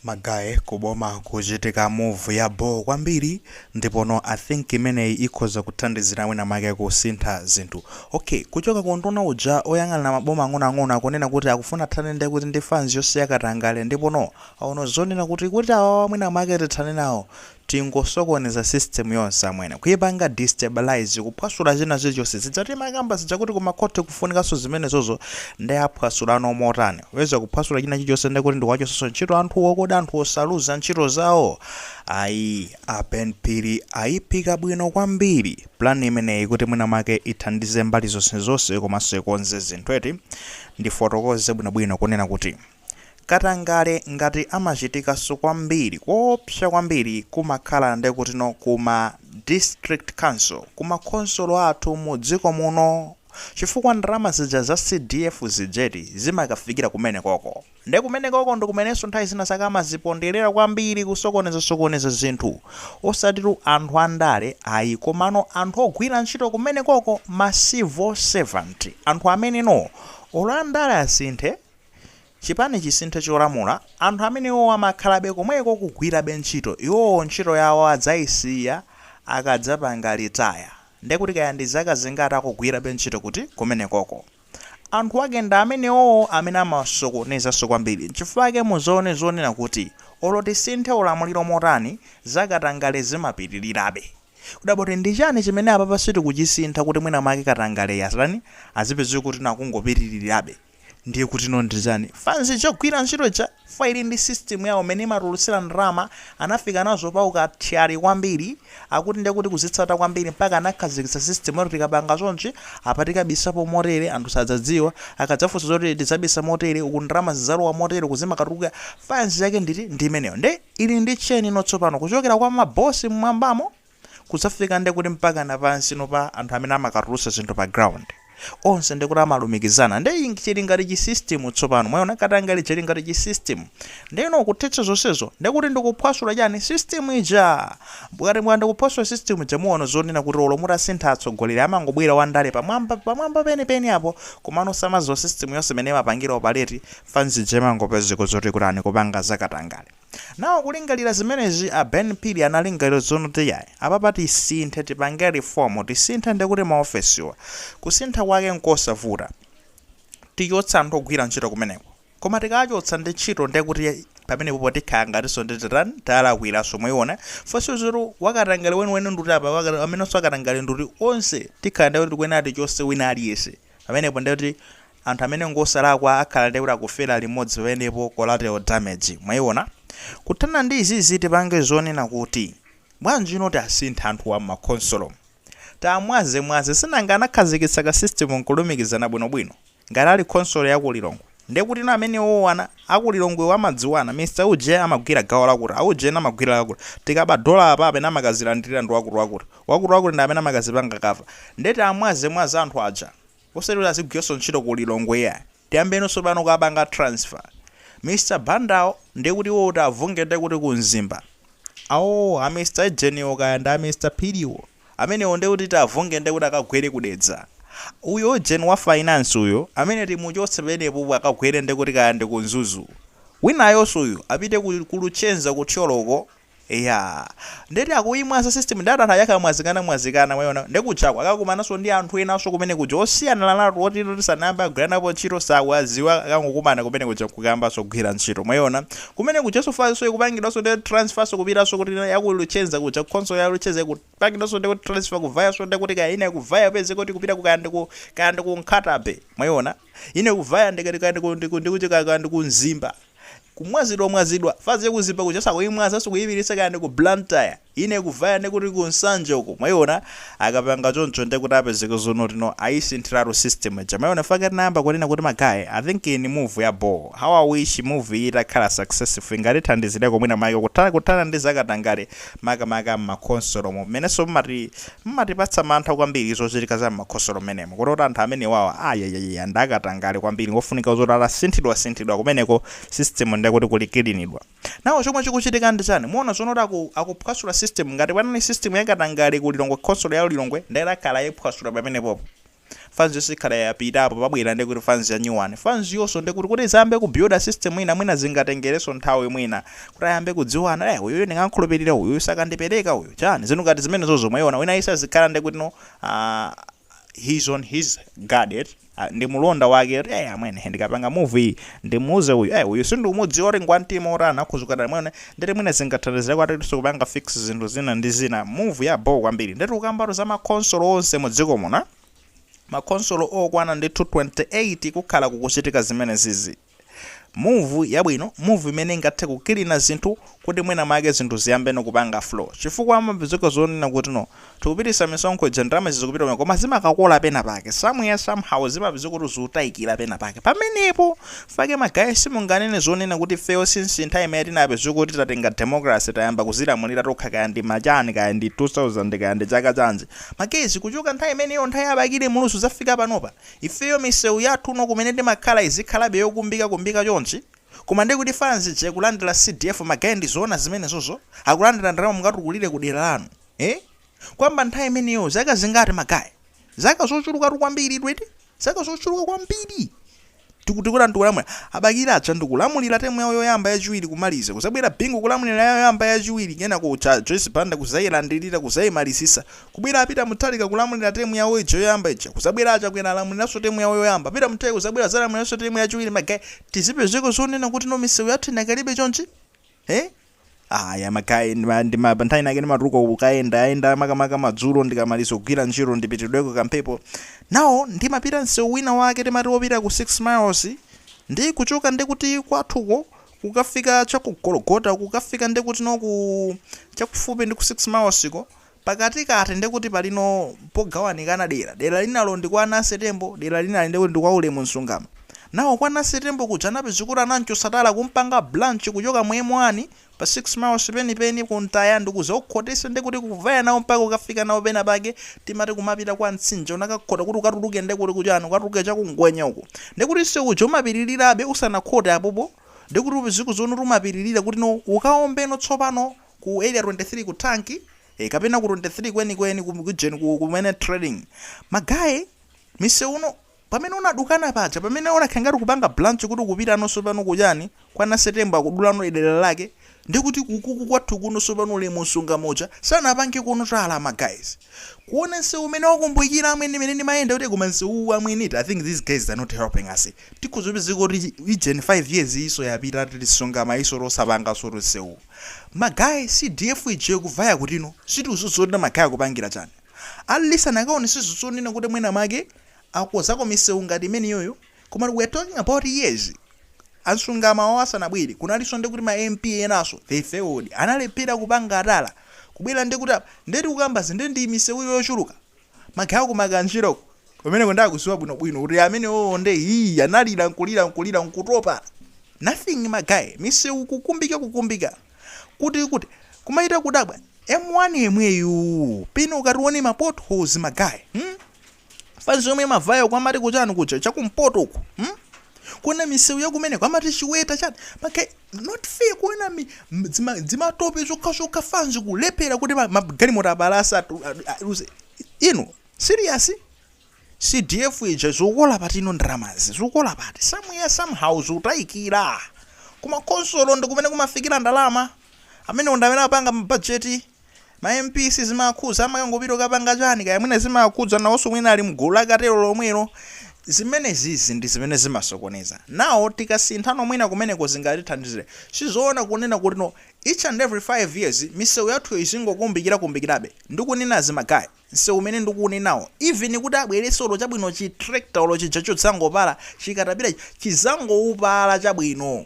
Ma guy ku boma kuchitika move ya bho kwambiri ndipono I think imeneyi ikhoza kuthandizira mwina mwake kusintha zinthu. Ok kuchoka ku unduna uja oyang'ana maboma ang'onoang'ono akunena kuti akufuna athane ndi kuti ndi fanz yonse ya katangale ndipono aona zonena kuti kuti awawa mwina mwake tithane nawo Tingosokoneza system yonse amwene. Kuipanga destabilize, kuphwasula china chilichonse. Zija timakamba zija kuti ku ma court kufunikanso zimenezozo nde aphwasulano motani? Popeza kuphwasula china chilichonse nde kuti ndikuwachotsanso ntchito anthuwo kodi anthuwo saluza ntchito zawo? Ayi, a Ben Phiri aiphika bwino kwambiri plan imeneyi kuti mwina mwake ithandize mbali zonsezonse komanso ikonze zinthu eti? Ndifotokoze bwinobwino kunena kuti. Katangale ngati amachitikaso kwambiri koopsa kwambiri kumakhala ndekutino kuma district council kumakhonsolo athu mu dziko muno chifukwa ndalama zija za CDF zijeti zimakafikira kumenekoko nde kumenekoko ndikumeneso nthawi zina zake amazipondelera kwambiri kusokoneza sokoneza zinthu osatitu anthu andale ayi komano anthu ogwira ntchito kumenekoko ma civil servant anthu amenewo olo andale asinthe Chipani chisinthe cholamula, anthu amenewowo amakhalabe komweko kugwirabe ntchito, iwowo ntchito yawo adzaisiya akadzapanga retire, ndekuti kaya ndi zaka zingati akugwirabe ntchito kuti? Kumenekoko. Anthu ake ndi amenewowo amene amasokonezanso kwambiri. Nchifukwa chake mudzaone zonena kuti olo tisinthe ulamuliro motani, za katangale zimapitirirabe. Kudabwa kuti ndi chani chimene apapa sitikuchisintha kuti mwina mwake katangaleyi asatani, azipezeka kuti nakungopitiririrabe. Ndiye kutino ndi chani? Fanz yogwira ntchito ija chifukwa ili ndi system yawo mmene imatulutsira ndalama, anafika nazo pa ukathyali kwambiri, akuti ndiye kuti kuzitsata kwambiri mpaka anakhazikitsa system yoti tikapanga chonchi, apa tikabisapo motere, anthu sadzadziwa, akadzafunsa zoti tidzabisa motere, uku ndalama zidzalowa motere, uku zimakatuluka, fanz yake nditi? Ndi imeneyo. Ndiye ili ndi chain ino tsopano, kuchokera kwa ma boss mmwambamo, kudzafika nde kuti mpakana pansino pa anthu amene amakatulutsa zinthu pa ground onse nde kuti amalumikizana nde chili ngati chi system tsopano mwaiona katangale uja ili ngati chi system nde ino kuthetsa zonsezo nde kuti ndikuphwasula chani system ija ngati mwakanda kuphwasula system ija muona zonena kuti olo mutasintha atsogoleri amangobwera wandale pamwamba pamwamba penipeni apo komano samadziwa system yonse imene imapangira operate fanz ija imangopezeka zoti kutani kupanga zakatangale Now kulingalira zimenezi a Ben Phiri analingalira zonoti yayi apapa tisinthe tipange reform tisinthe ndekuti ma ofesiwa kusintha kwake nkosavuta tichotsa anthu ogwira ntchito kumeneko koma tikawachotsa ndi ntchito ndekuti pamenepopo tikhala ngatinso ndi titani talakwiranso mwayiona funso zeroti wakatangale weniweni nduti apa waka- amenenso akatangale nduti onse tikhala ndekuti tikuyenera tichotse wina aliyense pamenepo ndekuti Anthu amene ngosalakwa akhala ndekuti akufera limodzi paenepo collateral damage mwaiona? Kuthana ndi izizi tipange zonena kuti bwanji no tiasinthe anthuwa mmakhonsolo tiamwaze mwaze sinanga anakhazikitsa ka system nkulumikizana bwino bwino ngati ali khonsolo yaku Lilongwe ndekuti no amenewowo ana aku Lilongwewo amadziwana Mr uje amagwira gawo lakuti auje ena amagwira lakuti tikaba dollar apa amene amakazilandilira ndi wakuti wakuti wakuti wakuti ndi amene amakazipanga cover nde tiamwaze mwaze anthu aja Osati kuti azigwiranso ntchito ku Lilongwe iyayi. Tiyambeno tsopano kuwapanga transfer. Mr Bandawo ndiye kuti iwowo tiavunge ndiye kuti ku Mzimba. Aoo a Mr Ujeniwo kaya ndi a Mr Phiriwo. Amenewo ndiye kuti tiavunge ndiye kuti akagwere ku Dedza. Uyo ujeni wa finance uyo amene timuchotse penepopo akagwere ndiye kuti kaya ndi ku Mzuzu. Winayonso uyu apite ku ku Luchenza ku Thyolo uko. Eya. Ndeti akuyimwaza system ndati anthu aja akamwazikana mwazikana mwayiona. Nde kujaku akakumananso ndi anthu enanso kumene kuja osiyanalatu oti toti sanayambe agwiranapo ntchito sawaziwa akangokumana kumene kuja nkukayambanso kugwira ntchito mwayiona. Kumene kujanso fazinso ikupangidwanso nde transferso kupitanso kuti ya ku Luchenza kuja khonsolo ya Luchenza ikupangidwanso nde kuti transfer kuvayanso nde kuti kaya ina ikuvaya upezeka kuti ikupita ku kaya ndi ku kaya ndi ku Nkhata Bay mwayiona. Ina ikuvaya ndi kaya ndi ku ndi ku ndi kuti kaya ndi ku Mzimba. kumwazidwamwazidwa faz yaku mzimba kujaso akuimwazaso kuipititsa kaya ndiku blantyre ina ikuvaya ndekuti ku nsanje uko mwaiona akapanga choncho ndekuti apezeka zonoti no aisinthiratu system ija mwaiona fake tinayamba kunena kuti ma guy i think iyi ndi move ya bho how i wish move iyi itakhala successful ingatithandizireko mwina make kutha kuthana ndi zakatangale makamaka mmakhonsolomo mmenenso mmati Mmatipatsa mantha kwambiri zochitika za mmakhonsolo mmenemo kototi anthu amenewawa ayayayaya ndakatangale kwambiri ngofunika zoti atasinthidwa sinthidwa kumeneko system nde kuti kuli kilinidwa. Now chomwe chikuchitika ndi chani muona zonena kuti aku akuphwasula system ngati panali system ya katangale ku Lilongwe khonsolo ya Lilongwe nde akhala aiphwasula pamenepopo. fans yonse ikhala yapita apo pabwera nde kuti fans ya new one fans yonso nde kuti kuti izayambe ku builda system ina mwina zingatengereso nthawi mwina kuti ayambe kudziwana eh uyuyu ndingankhulupirira uyuyu sakandipereka uyu chani zinthu ngati zimenezozo mwaiona wina aliyense azikhala nde kuti no ah, he's on his guard eti Ah, ndi mulonda wake eti eh amwene ndikapanga move iyi ndimuuze uyu eh uyu sindikumudziwa kuti ngwantima otani akhuzuka dala mwene ndeti mwina zingathandizireko atatiso kupanga fix zinthu zina ndi zina move ya bho kwambiri nde tikukambatu za makhonsolo onse mu dziko muno makhonsolo okwana ndithu 28 kukhala kukuchitika zimenezizi move yabwino move imene ingathe kukilina zinthu kuti mwina make zinthu ziyambeno kupanga flow chifukwa amapezeka zonena kuti no Tikupitisa misonkho ija ndalama izi zikupita kumene koma zimakakola pena pake somewhere somehow zimapezeka kuti zutaikila pena pake pamenepo ifeyo ma guy simunganene zonena kuti ifeyo since nthawi imene tinapezeka kuti tatenga democracy tayamba kuzilamulira tokha kaya ndi ma chani kaya ndi 2000 kaya ndi chaka chanji ma guys kuchoka nthawi imeneyo nthawi ya Bakili Muluzi kuzafika panopa ifeyo miseu yathu kuno kumene timakhala izikhalabe yokumbika kumbika chonchi koma ndiye kuti fans ija ikulandila CDF ma guy ndizoona zimenezozo? Akulandila ndalama mukatukulire ku dera lanu? Eh? Kuyamba nthawi imeneyo zaka zingati ma guy? Zaka zochulukatu kwambiri eti? Zaka zochuluka kwambiri. Tikuti kulamulira. A Bakili aja ndikulamulira temu yawo yoyamba yachiwiri kumaliza. Kuzabwera Bingu kulamulira yawo yoyamba yachiwiri kena kuja Joyce Banda kuzayilandirira kuzayimalizisa. Kubwera a Peter Mutharika kulamulira temu yawo ija yoyamba ija. Kuzabwera a Chakwera alamuliranso temu yawo yoyamba. Peter Mutharika kuzabwera zalamuliranso temu yachiwiri ma guy. Tizipezeka zonena kuti no misewu yathu inakalibe chonchi? Eh? Ayi ma guy ndima- ndima- pa nthawi inake ndimatuluka kukayendayenda makamaka madzulo ndikamaliza kugwira ntchito ndipitidweko kamphepo nawo ndimapita msewu wina wake timati wopita ku 6 miles ndi kuchoka ndikuti kwathuko kukafika chakugologota kukafika ndikuti noku chakufupi ndi ku 6 miles ko Pakatikati ndiye kuti pali no pogawanikana dera. Dera linalo ndi kwa Nancy Tembo, dera linali ndiye kuti ndi kwa Ulemu Nsungama. Nawo kwa Nancy Tembo kuja anapezeka kuti anamchotsa tala kumpanga branch kuchoka mu M1 pa 6 miles peni peni ku Ntaya ndikuzaukhotetsa ndiye kuti kuvaya nawo mpaka kukafika nawo pena pake timati kumapita kwa Mtsinje unakakhota kuti ukatuluke ndiye kuti kuchani ukatuluke cha ku Ngwenya uko ndiye kuti msewu uja umapitilirabe usanakhote apopo ndiye kuti upezeka zoti umapitilira kuti no ukaombeno tsopano ku area 23 ku tank e kapena ku 23 kwenikweni ku region ku kumene trading ma guy msewu uno pamene unadukana paja pamene unakhala ngati kupanga branch kuti kupita nonso pano kuchani kwa Nancy Tembo akudulano idera lake ndikuti kukuku kwathu kuno sopano Ulemu Nsungama uja sanapange kuno tala ma guys kuona nsewu umene wakumbikira amwene mene ndimayenda kuti koma nsewu uwu amwene it i think these guys are not helping us tikhoza kupezeka kuti region 5 years iso yapita tili Nsungama iso osapanga solo nsewu Ma guy CDF ija ikuvaya kuti no sitikuziona ma guy akupangila chani at least anakaoneseso zonena kuti mwina mwake akozako misewu ngati imeneyoyo koma we're talking about years a Nsungama awo asanabwere kunaliso ndekuti ma MP enaso they failed analephera kupanga tala kubwera ndekuti apa nde tikukamba zi nde ndi misewuyo yochuluka Ma guy aku Makanjirako kumeneko nde akuziwa bwino bwino kuti amenewowo nde hii analira nkulira nkulira nkutopa nothing ma guy misewu kukumbika kukumbika kuti kuti kumachita kudabwa M1 yemweyuu pena ukati uone ma potholes ma guy hmm? fanzi yomwe imavaya ku amati kuchani kuja chakumpoto uku hmm? kuona misewu yakumeneko amati Chiweta chani ma guy not fair kuona dzi, dzima, dzimatope zokhazokha fanzi kulephera kuti magalimoto apalasa aziyuza inu serious cdf ija zokola pati ino ndramazi zokola pati somehow somehow zikutayikira kumakonsolo ndi kumene kumafikira ndalama amene ndi amene apanga mabajeti Ma MP zimawakhuza amakangopita kukapanga chani kaya mwina zimawakhudza nawonso mwina ali mgulu la katelo lomwelo zimenezizi ndizimene zimasokoneza now tikasinthano mwina kumeneko zingatithandizile sizoona kunena kutino each and every 5 years misewu yathuyo izingokumbikira kumbikirabe ndikunenazi ma guy nsewu umene ndikuunenawo even kuti abwerese olo chabwino chi tractor olo chija chodzangopala chikatapila chija chizangoupala chabwino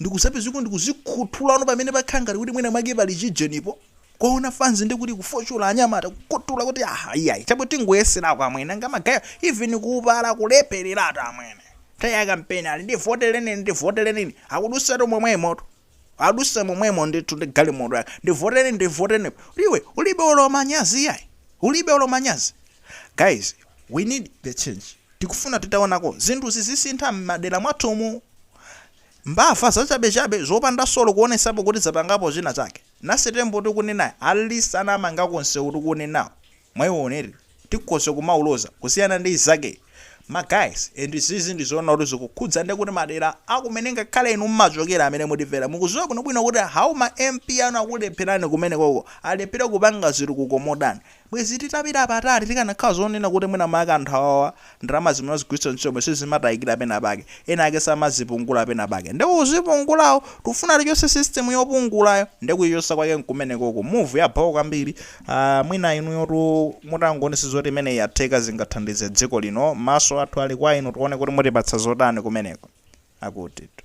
ndikuzapezako ndikuzikhuthulano pamene pakhala ngati kuti mwina mwake pali chijenipo kuwaona fanzi ndi kuti kufoshola anyamata kukhuthula kuti aha iyayi chabwe tingoyeserako amwene anga magaye even kuupala kulephereratu amwene nthawi ya kampeni ali ndivotereni ndivotereni akudutsatu momwemoto adutsa momwemo ndithu ndi galimoto yake ndivoteni ndivoteni iwe ulibe olo manyazi iyayi ulibe olo manyazi Guys we need the change tikufuna titaonako zinthuzi zikusintha mmadera mwathumu. Mbava zachabechabe zopanda olo kuonesapo kuti zapangapo china chake. Naye Tembo tikunenayi at least anamangako nsewu tikuunenawu mwa iyo nde tikhoza kumauloza kusiyana ndi izakeyi. Ma guys and izizi ndizoona kuti zikukhudza ndi kuti madera akumene ngakhale inu mmachokera amene mutimvera mukuziwa bwinobwino kuti how ma MP anu akulepherani kumenekoko alephera kupanga zitukuko motani. Bwenzi titapita patali tikanakhala zonena kuti mwinamwake anthu awawa ndalama zimene azigwiritsa ntchito sizimatayikira penapake, ena ake samazipungula penapake nde ozipungulawo tikufuna tichotse system yopungulayo nde kuichotsa kwake nkumenekoko. Move ya bho kwambiri. Aaa mwina inuyotu mutangowonetsa zoti imeneyi yatheka zingathandize dziko lino. Maso athu ali kwa inu tiwone kuti mutipatsa zotani kumeneko. Akutitu.